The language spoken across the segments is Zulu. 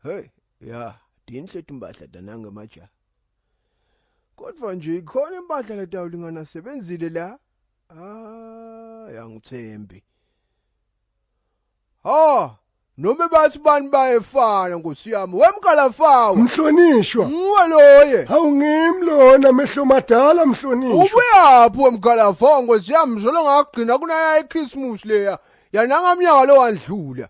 Hey, ya, dinhle timbahla tananga maja. Kodwa nje ikhona impahla letawulingana sebenzile la. Ah, yangithembi. Ha, noma bathi bani bayefana nkosi yami. Wemkalafawa. Mhlonishwa. Nguwe loye. Hawu ngimi lona mehlo madala mhlonishwa. Ubuyaphi wemkalafawa nkosi yami zolo ngagcina kunaya iChristmas leya. Yananga mnyaka lo wandlula.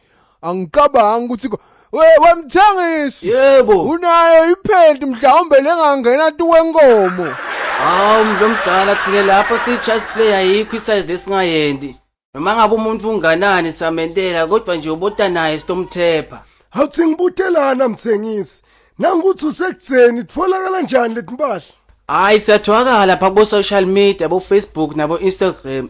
angicabangi ukuthi ko- we wemthengisi yebo unayo iphenti mhlawumbe lengangena tu wenkomo hawu mntu omdala thina lapho siyi-chess play ayikho isayizi lesingayendi noma ngabe umuntu unganani samentela kodwa nje ubota naye sitomthepha awuthi ngibutelana mthengisi nangukuthi usekutheni titfolakala njani leti mpahla hhayi siyatholakala pha kubo-social media bo-facebook nabo-instagram